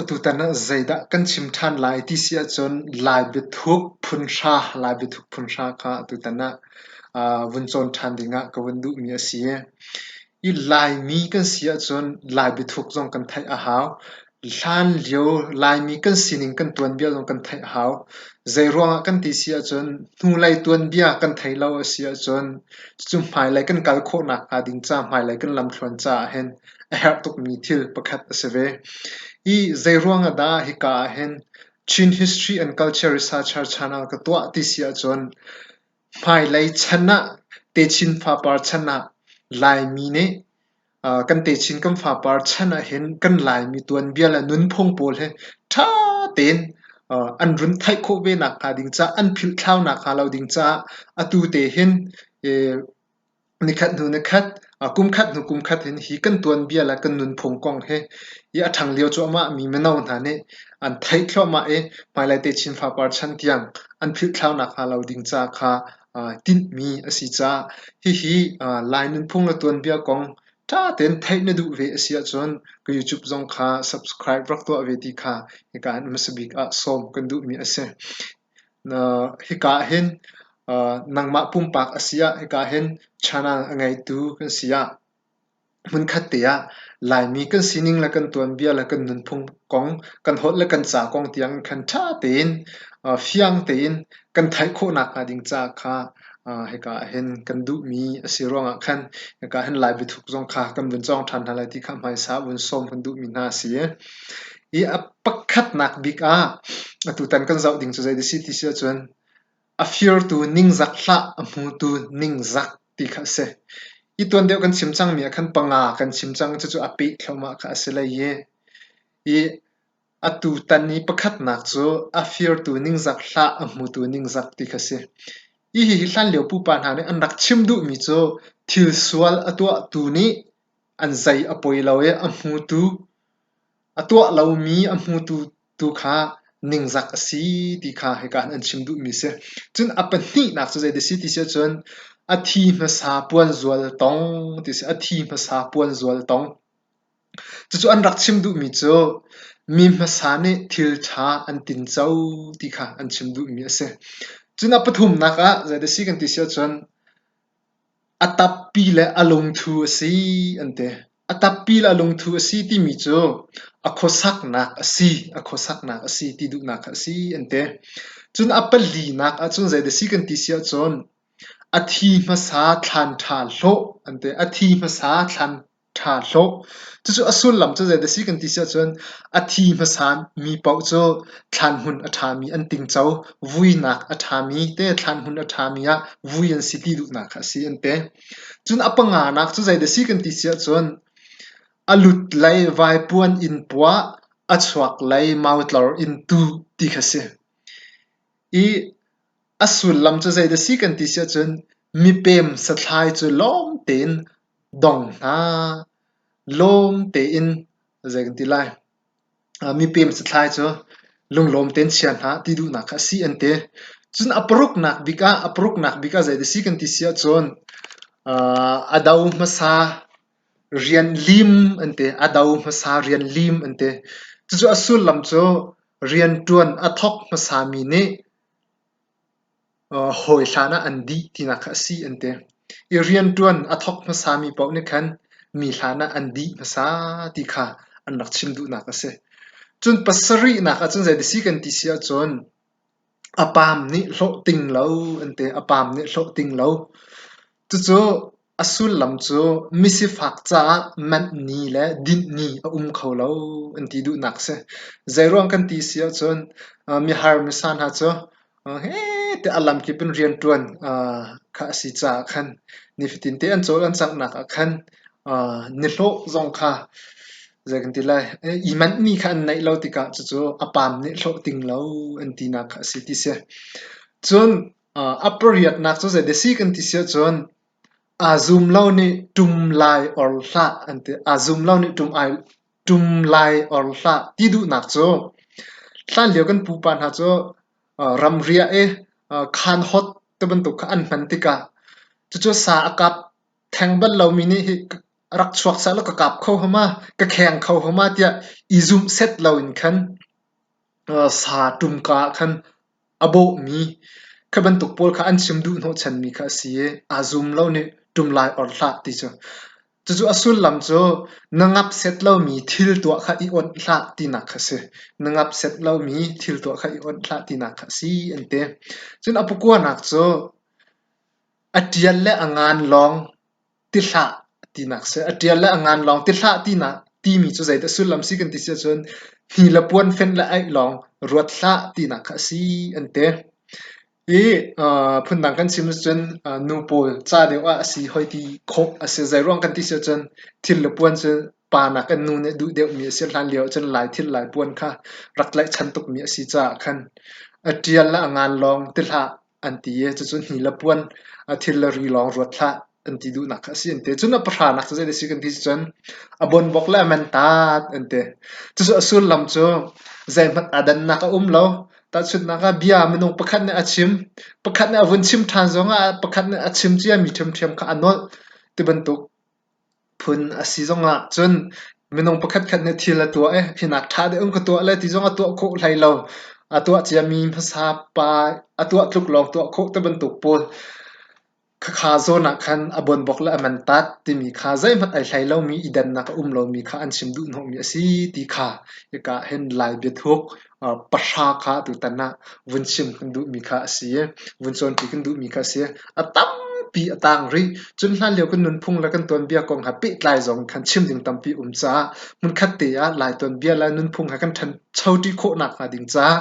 Atutan ah zeidah kan chim ṭhan lai ti si ahcun Lai biathuk phunhra, Lai biathuk phunhra kha atutan ah vun cawn ṭhan ding ah ka vun duhmi a si. I Laimi kan si ahcun Lai biathuk zong kan theih a hau. Hlan lio Laimi kan sining kan tuanbia zong kan theih a hau. Zeiruangah kan ti si ahcun hnulei tuanbia kan thei lo a si ahcun cucu hmailei kan kal khawh nakhnga ding ca, hmailei kan lamthluan caah hin a herh tukmi thil pakhat a si ve. Hi zeiruangah dah hika ah hin Chin History and Culture Researcher Channel ka tuah ti si ahcun hmailei chan ah techin fapar chan ah Laimi nih kan techin kan fapar chan ahhin kan Laimi tuanbia le nunphung pawl hi ṭha tein an run theih khawh ve nakhnga ding caah, an philhthlau nakhnga lo ding caah atu te hin nikhat hnu nikhat, kumkhat hnu kumkhat hin hi kan tuanbia le kan nunphung kong hi a ṭhanglio cu amahmi mino hna nih an theih thluahmah i hmailai techin fapar chan tiang an philhthlau nakhnga lo ding caah kha aa tinhmi a si caah hihi Lai nunphung le tuanbia kong ṭha tein theih na duh ve a si ahcun ka YouTube zong kha subscribe rak tuah ve ti kha hika in hmasa bik ah sawm kan duhmi a si. Hika ah hin nangmah pumpak a si ah hika hin channel a ngeitu kan si ah Hmunkhat te ah Laimi kan sining le kan tuanbia le kan nunphung kong, kan holh le kan ca kong tiang in khan ṭha tein, fiang tein kan theih khawhnak hnga ding caah kha hika ahhin kan duhmi a si ruangah khan hika ahhin Lai biathuk zong kha kan vun cawng ṭhan hna lai ti kha hmaisa vun sawm kan duhmi hna a si. Hi a pakhatnak bik ah atutan kan zoh ding cu zei a si ti si ahcun A firtu ningzak hlah, a hmutu ningzak ti kha a si. Hi tuan deuh kan chim cangmi ah khan panga kan chim cang i cucu a peh thluahmah kha a si hlei i, hi a tutan i pakhatnak cu a firtu ningzak hlah, a hmutu ningzak ti kha a si. Hihi hlanlio pupa hna nih an rak chim duhmi cu thil sual a tuahtu nih an zei a poi lo i a hmutu A tuah lomi a hmutu tu kha ningzak a si ti kha hika an chim duhmi a si. Cun a pahnihnak cu zeidah a si ti si ahcun a thi hmasa puanzual tong ti a si. A thi hmasa puanzual tong. Cucu an rak chim duhmi cu mi hmasa nih thil ṭha an tinco ti kha an chim duhmi a si. Cun a pathumnak ah zeidah a si kan ti si ahcun A tappi le a lungthu a si an ti. A tappi le a lungthu a si timi cu a khuasaknak a si, a khuasaknak a si ti duhnak kha a si an ti. Cun a palinak ahcun zei dah si kan ti si ahcun a thi hmasa thlan ṭha hlawh an ti. A thi hmasa thlan. Ṭha hlawh. Cucu a sullam cu zeidah a si kan ti si ahcun a thi hmasan mi paoh cu thlanhmun a ṭhami an tingco. Vuinak a ṭhami te thlanhmun a ṭhami ah vui an si ti duhnak kha a si an ti. Cun a panganak cu zeidah a si kan ti si ahcun a lut lei vaipuan in puah, a chuak lei mautlor in tuh ti kha si. I a sullam cu zeidah a si kan ti si ahcun mipem sathlai cu lawm tein Dong hna, lawm tein zei kan ti lai, mipem sathlai cu lunglawm tein chia hna ti duhnak kha a si an ti. Cun a paruknak bik ah, a paruknak bik ah zeidah a si kan ti si ahcun a do hmasa rian lim an ti. A do hmasa rian lim an ti. Cucu a sullam cu rianṭuan a thawk hmasami nih hawi hlan ah an dih tinak kha a si an ti. I rianṭuan a thawk hmasami paoh nih khan mi hlan ah an dih hmasa ti kha an rak chim duhnak a si. Cun pasarihnak ahcun zei dah si kan ti si ahcun a paam nih hlawh ting lo an ti. A paam nih hlawh ting lo. Cucu a sullam cu misifak caah manh ni le dinh ni a um kho lo an ti duhnak a si. Zeiruang kan ti si ahcun mihar misa hna cu hete a lamkip in rianṭuan kha a si caah khan nifatinte an cawl an canghnak ah khan nihlawh zong kha zei kan ti lai i manhmi kha an neih lo tikah cucu a paam nih hlawh ting lo an tinak kha a si ti si. Cun A pariatnak cu zeidah a si kan ti siahcun aa zum lo nih ṭum lai or hlah an ti. Aa zum lo nih ṭum ai ṭum lai or hlah ti duhnak cu hlanlio kan pupa hna cu aa ramri ah i aa khaan hawt ti bantuk kha an hman tikah cucu sa a kap theng bal lomi nih hi rak chuak seh law ka kap kho hnga ma, ka kheng kho hnga ma tiah i zumh set loin khan sa ṭumka ah khan a bawhmi khi bantuk pawl kha an chim duhhnawhchanmi kha a si i aa zum lo nih ṭum lai or hlah ti cu. Cucu a sullam cu na ngap set lomi thil tuah kha i awnh hlah tinak kha si. Na ngap set lomi thil tuah kha i awnh hlah tinak kha a si an ti. Cun a pakuanak cu a ṭial le a ngan lawng tihlah tinak si. A ṭial le a ngan lawng tihlah tinak timi cu zeidah sullam si kan ti si ahcun hi le puan fenh le aih lawng ruat hlah tinak kha a si an ti. Hi phundang kan chim ahcun nu pawl ca deuh ah a si hoi ti khawh a si. Zeiruang kan ti si ahcun thil le puan cu pa nakin nu nih duh deuhmi a si. Hlan lio ahcun Lai thil Lai puan kha rak tlaihchan tukmi a si caah khan a ṭial le a ngan lawng tihlah an ti i cucu nila puan a thil le ri lawng ruat hlah an ti duhnak kha a si an ti. Cun a pahranak cu zeidah a si kan ti cu cun a bonbok le a mentat an ti. Cucu a sullam cu zeihmanh aa dannak a um lo. Tahchunhnak ah bia minung pakhat nih a chim, pakhat nih a vun chim ṭhan zongah pakhat nih a chim cia mi ṭhiamṭhiam kha a nolh tibantuk. Phun a si zong ah cun minung pakhatkhat nih thil a tuah i hinak ṭha deuh in ka tuah le ti zong a tuah khawh hlei lo. A tuah ciami hmasa pa a tuah tluk lawng tuah khawh ti bantuk pawl khakha zawn ah khan a buanbok le a mantat timi kha zeihmanh ai hlei lomi i dannak a um lomi kha an chim duh hnawhmi a si ti kha hika ah hin lai biathuk pahra kha tutan ah vun chim kan duhmi kha a si i vun cawnpi kan duhmi kha a si. A tampi a tang rih. Cun hlan lio kan nunphung le kan tuanbia kong ha pehtlai zong in khan chim ding tampi um caah hmunkhat te ah Lai tuanbia le nunphung ha kan ṭhanchoṭi khawhnak hnga ding caah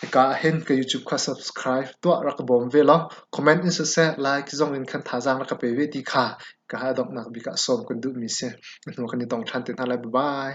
hika ahhin ka YouTube kha subscribe tuah rak ka bawm ve law comment in siseh like zong in khan thazaang rak ka pe ve ti kha ka ha donghnak bik ah sawm kan duhmi si. Na hnu kan i dong ṭhan te hna lai. Bye bye.